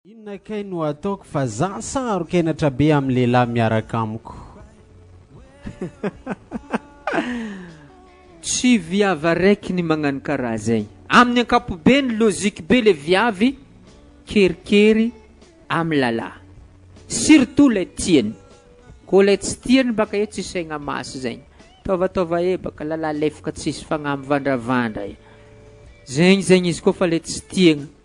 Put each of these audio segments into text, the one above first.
Inona kay no ataoko fa za saro-kenatra be amin'ny lehilahy miaraka amiko. Tsy viavy araiky ny magnano karaha zay. Amin'ny ankapobeny logique be le viavy kerikery amin'ny lalah. Surtout lay tiany. Koa lay tsy tiany baka e tsy saigna masy zay. Taovataova ebaka, lalah lefoka tsisy fagnahy mivandravandra e. Zegny zegny izy koa fa le tsy tiagna.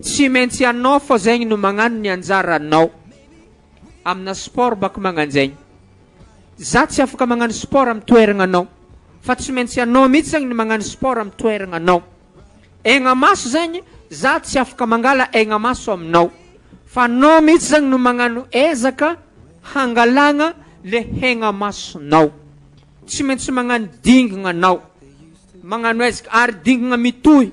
Tsy maintsy ianao fô zegny no magnano ny anjaranao amina sport bako magnanjegny. Za tsy afaka magnano sport am toeragna anao fa tsy maintsy ianao mitsy zegny ny magnano sport am toeragna anao. Aigna maso zegny za tsy afaka mangala aigna maso aminao fa anao mitsy zegny no magnano ezaka hangalagna le haigna masonao. Tsy maintsy magnano dingagna anao magnano ezaka ary dingagna mitohy.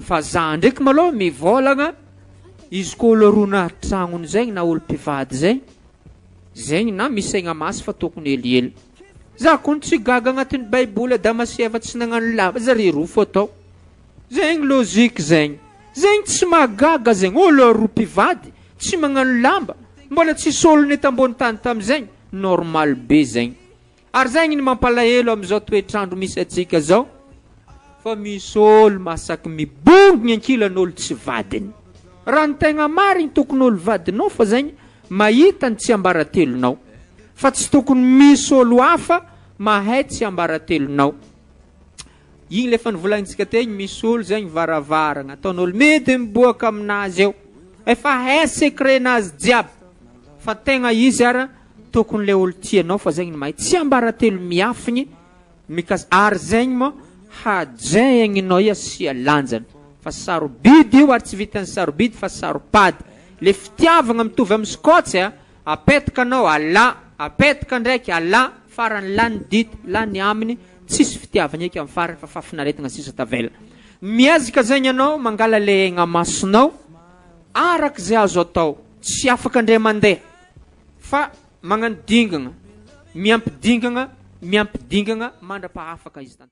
Fa za ndraiky malou mivôlagna izy ko olo roa na tragnony zegny na olo mpivady zegny zegny na misy saigna masy fa tokony helihely za kony tsy gaga agnatiny baiboly adama sy eva tsy nagnano lava zare roa fô tao zegny logique zegny zegny tsy mahagaga zegny olo roa mpivady tsy magnano lamba mbola tsisy olone tambony tany tamizegny normal be zegny Ary zay ngny mampalahelo amizao toetrandro misy atsika zao fa misy olo masaky mibongny ankilan olo tsy vadiny. Raha ny tegna marigny tokony olo vadinao fa zay ngny mahita ny tsiambaratelonao fa tsy tokony misy olo hafa mahay tsiambaratelonao. Igny le efa nivolagnitsika tegny misy olo zay ngny varavaragna ataonolo midy miboaka aminazy eo efa hay secret nazy jiaby fa tegna izy ara Tokony le olo tianao fa zegny mahay tsiambaratelo miafigny mikas ary zegny mô hajaigninao i asia lanjany fa sarobidy io ary tsy vitan'ny sarobidy fa saropady le fitiavagna mitovy amy skotsy a apetaka anao alà apetaka ndraiky alà farany lany dity lany aminy tsisy fitiavagna eky amy farany fa fafinaretagna sisa tavela miezaka zegny anao mangala le egna masonao arak'ze azo atao tsy afaka ndray mandeha Fa magnano dingana, miampy dingana, miampy dingana mandra-pahafaka izy tanteraka.